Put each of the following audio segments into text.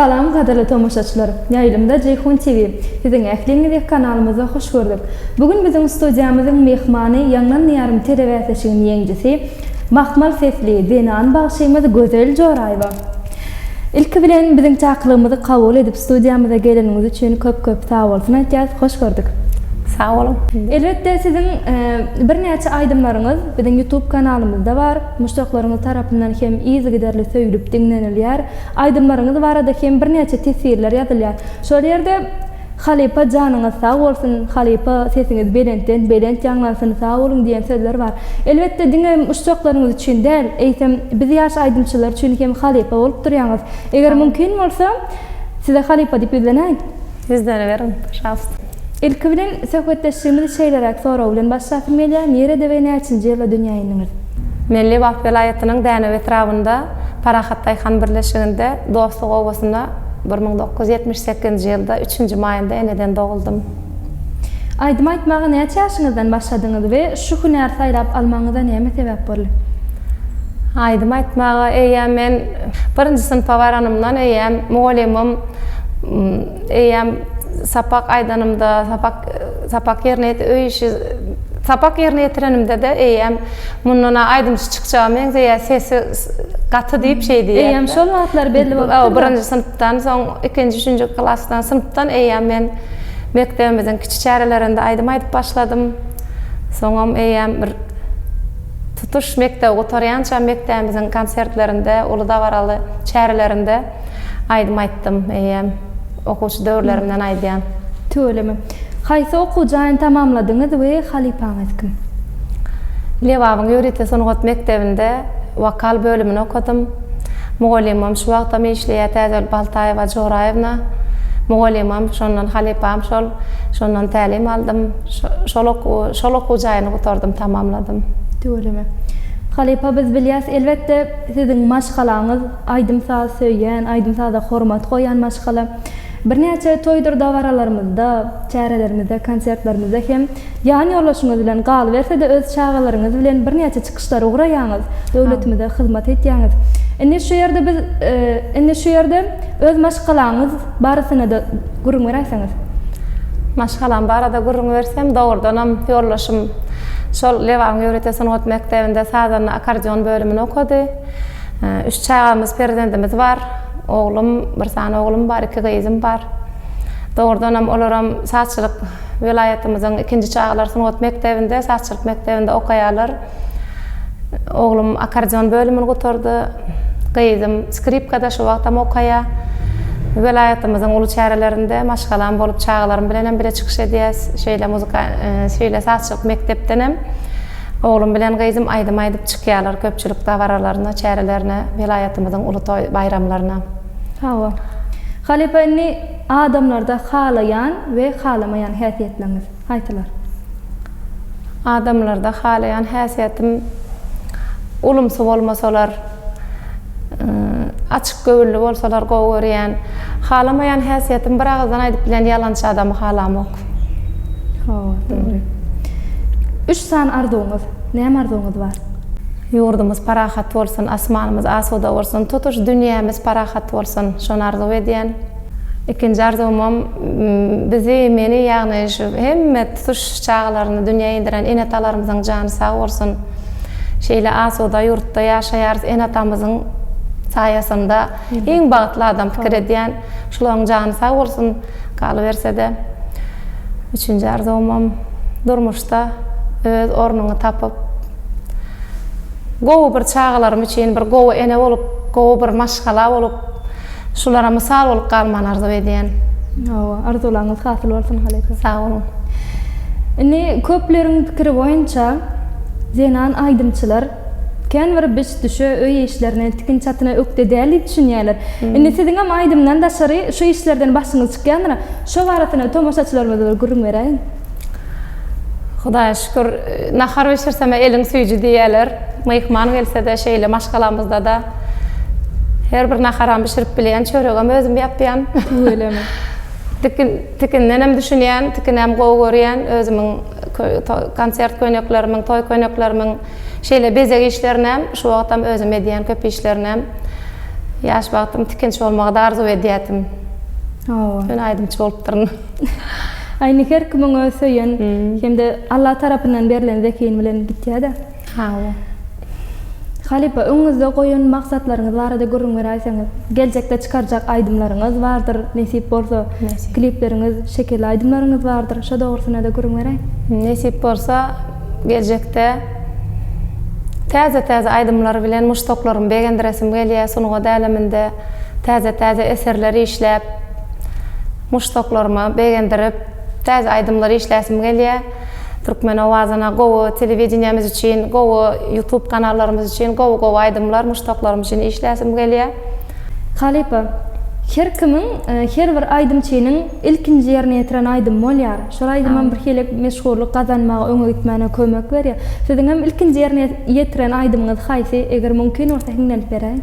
Salam gadyrly tomaşaçylar. Ýaýlymda Jeýhun TV. Siziň ähliňizi kanalymyzda hoş gördük. Bu gün biziň studiýamyzyň myhmany Ýaňlan diýarym telebäsleşiginiň ýeňjisi, mahmal sesli zenan bagşymyz Gözel Joraýewa. Ilki bilen biziň çakylygymyzy kabul edip studiýamyza geleniňiz üçin köp köp sagbolsun aýtýas, hoş gördük. Sag boluň. Elbetde siziň birnäçe aýdymlaryňyz biziň ýutub kanalymyzda bar, muşdaklaryňyz tarapyndan hem yzygiderli söýlüp diňlenilýär, aýdymlaryňyz barada hem birnäçe teswirler ýazylýar. Şol ýerde Halypa janyňyz sag bolsun halypa sesiňiz belentden belent ýaňlansyn sag boluň diýen sözler bar elbetde diňe uşjaklaryňyz üçin däl eýsem biz ýaş aýdymçylar üçin hem halypa bolup durýaňyz eger mümkin bolsa size halypa diýip ýüzlenäýin. Ýüzleneweriň pažalsta. Ilki bilen söhbetdeşligimizi şeýleräk sorag bilen başlasym gelýär, nirede we näçinji ýylda dünýä indiňiz? Men Lebap welaýatynyň Dänew etrabynda Parahat daýhan birleşiginde Dostluk obasynda Bir müň dokuz ýüz ýetmiş sekizinji ýylda üçünji maýynda eneden doguldym. Aýdym aýtmaga näçe ýaşyňyzdan başladyňyz we şu hünäri saýlap almagyňyza näme sebäp boldy? Aýdym aýtmaga eýýäm men birinji synpa baranymdan eýýäm mugallymym eýýäm sapak aýdanymda sapak sapak ýerine ýet öý işi sapak ýerine ýetirenimde-de eýýäm mundan-a aýdymçy çykjaga meňzeýär sesi gaty diýip şeý diýýär. Eýýäm şol wagtlar belli bolupdyr. Hawa, birinji synpdan soň, ikinji, üçünji klasdan, synpdan eýýäm men mekdebimiziň kiçi çärelerinde aýdym aýdyp başladym. Soňam eýýäm bir tutuş mekdebi gutarýançam mekdebimiziň konsertlerinde, uly dabaraly çärelerinde Aýdym aýtdym, eýýäm. Okuwçy döwürlerimden aýdýan. Tüweleme. Haýsy okuw jaýyny tamamladyňyz we halypaňyz kim? Lebabyň ýörite sungat mekdebinde wokal bölümini okadym. Mugallymym şu wagtam işleýär Täzöl Baltaýewa Joraýewna. Mugallymym, şondan halypam şol. Şondan tälim aldym. Şol okuwy, şol okuw jaýyny gutardym, tamamladym. Tüweleme. Halypa biz bilýäs, elbetde, siziň maşgalaňyz, Aýdym-saz söýýän, aýdym-saza hormat goýýan maşgala. Birnäçe toýdur dabaralarymyzda, çärelerimizde, konsertlerimizde hem ýan ýoldaşyňyz bilen, galyberse-de öz çagalaryňyz bilen birnäçe çykyşlara ugraýaňyz, döwletimize hyzmat etýäňiz. Indi şu ýerde biz, indi şu ýerde öz maşgalaňyz barasynada gürrüň beräýseňiz. Maşgalam barada gürrüň bersem, dogrudanam ýoldaşym şol Lebapyň ýörite sungat mekdebinde sazanda, akkordeon bölümini okady. Üç çagamyz, perzendimiz bar. Oglum, bir sany oglum bar, iki gyzym bar. Dogrudanam, olaram sazçylyk welaýatymyzyň ikinji çagalar sungat mekdebinde, sazçylyk mekdebinde okaýarlar. Oglum akkordeon bölümini gutardy. Gyzym skripkada şu wagtam okaýar. Welaýatymyzyň uly çärelerinde maşgalam bolup, çagalarym bilenem bile çykyş edýäs. Şeýle muzykal, şeýle sazçylyk mekdepdenem. Oglum bilen gyzym aýdym aýdyp çykýarlar köpçülik dabaralaryna, çärelerine, welaýatymyzyň uly toý, baýramlaryna. Hawa. Halypa indi adamlarda halaýan we halamaýan häsiýetleriňiz haýsylar? Adamlarda halaýan häsiýetim ulumsy bolmasalar. Açyk göwünli bolsalar gowy görýän. Halamaýan häsiýetim bir agyzdan aýdyp bilen ýalançy adamy halamok. Hawa, dogry. Üç sany arzuwyňyz, näme arzuwyňyz bar? Ýurdumyz parahat bolsun, asmanymyz asuda bolsun, tutuş dünýämiz parahat bolsun. Şony arzuw edýän. Ikinji arzuwymam bizi, meni ýagny şu hemme tutuş çagalaryny dünýä inderen ene-atalarymyzyň jany sag bolsun. Şeýle asuda ýurtda ýaşaýarys ene-atamyzyň saýasynda iň bagtly adam pikir edýän şulaň jany sag bolsun galybersede üçünji arzuwymam durmuşda öz ornuňy tapyp gowy bir çagalarym üçin bir gowy ene bolup gowy bir maşgala bolup Şulara mysal bolup galmany arzuw edýän. Hawa, arzuwlaryňyz hasyl bolsun halypa. Sag boluň. Indi köpleriň pikiri boýunça zenan aýdymçylar kän bir biş düşe öý işlerine, tikin çatyna ökde däl diýip düşünýärler. Indi siziňem aýdymdan daşary şu işlerden başyňyz çykýandyr. Şo barasynda tomaşaçylarymyza bir gürrüň beräýiň. Hudaýa şükür, nahar bişirsem-ä eliň süýji diýýäler. Myhman gelse-de şeýle, maşgalamyzda-da her bir naharam bişirip bilýän, çöregem özüm ýapýan. Tüweleme. Tikin, tikindenem düşünýän, tikinem gowy görýän. Özümiň konsert köýneklerimiň, toý köýneklerimiň şeýle bezeg işlerinäm, şu wagtam özüm edýän köp işlerinäm. Ýaş wagtym tikinçi bolmagy-da arzuw edýärdim. Hawa. Ýöne aýdymçy bolupdyryn. Aýni her kimiň öz söýen hem-de Alla tarapyndan berlen zehin bilen gitýä-dä. Hawa. Halypa, öňüňizde goýan maksatlaryňyz barada gürrüň beräýseňiz? Geljekde çykarjak aýdymlaryňyz bardyr, nesip bolsa, klipleriňiz, şekilli aýdymlaryňyz bardyr. Şo dogrusynda-da gürrüň beräý. Nesip bolsa, geljekde täze-täze aýdymlar bilen muşdaklarymy begendiresim gelýär, sungat äleminde täze-täze eserler işläp, Muşdaklarymy begendirip, täze aýdymlar işläsim gelýä. Türkmen owazyna gowy, telewideniýämiz üçin gowy, ýutub kanallarymyz üçin gowy-gowy aýdymlar, muşdaklarym üçin işläsim gelýä. Halypa, her kimiň, her bir aýdymçynyň ilkinji ýerine ýetiren aýdymy bolýar. Şol aýdymam birhili meşhurlyk gazanmaga, öňe gitmäne kömek berýär. Siziňem ilkinji ýerine ýetiren aýdymyňyz haýsy? Eger mümkin bolsa hiňlenip beräýiň.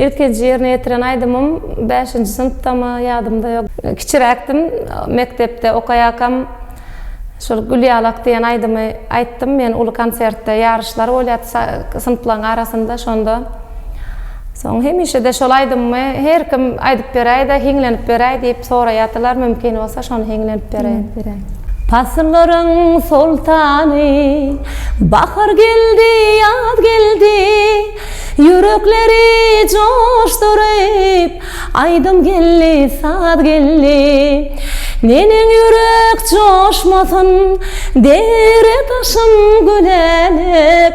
Ilkinji ýerine ýetiren aýdymym bäşinji synpdamy, ýadymda ýok. Kiçiräkdim, mekdepde okaýarkam şol Gülýalak diýen aýdymy aýtdym men uly konsertde. Ýaryşlar bolýardy synplaryň arasynda şonda. Soň hemişe-de şol aýdymymy her kim aýdyp beräý-de, hiňlenip beräý diýip soraýardylar, mümkin bolsa şony hiňlenip beräýin. Pasyllaryň soltany, Bahar geldi, ýaz geldi, Ýürekleri joşduryp, Aýdym geldi, saz geldi. Neneň ýürek joşmasyn, Dere-daşym gülänek,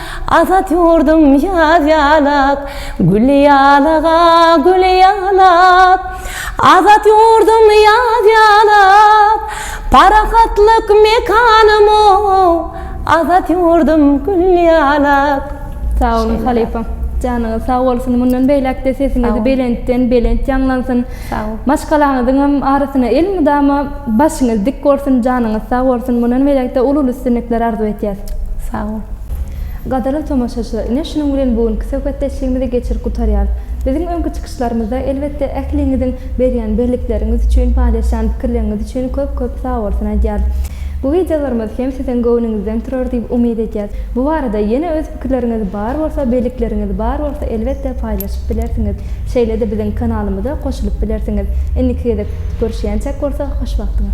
Azat ýurdum ýaz ýalak, gül ýalak, a, gül ýalak. Azat ýurdum ýaz ýalak, parahatlyk mekanym, o, azat ýurdum gül ýalak. Sag boluň halypam. Janyňyz sag bolsun. Mundan beýläk-de sesiňiz belentden belent ýaňlansyn. Sag bol. Maşgalaňyzyňam arasyna elmydama başyňyz dik bolsun janyňyz sag bolsun mundan berekde uly uly üstünlikler arzuw etýäs. Sag bol. Gadyrly tomaşaçylar ine şunuň bilen bu günki söhbetdeşligimizi geçirip gutarýarys. Biziň öňki çykyşlarymyzda elbetde ähliňiziň berýän bellikleriňiz üçin paýlaşýan pikirleriňiz üçin köp köp sag bolsun aýdýarys. Bu wideolarymyz hem siziň göwnüňizden turar diýip umyt edýäs. Bu barada ýene öz. Pikirleriňiz bar bolsa, beýlikleriňiz bar bolsa elbetde paýlaşyp bilersiňiz. Şeýle-de biziň kanalymyza goşulyp bilersiňiz. Indiki gezek görüşýänçäk bolsa hoş wagtyňyz.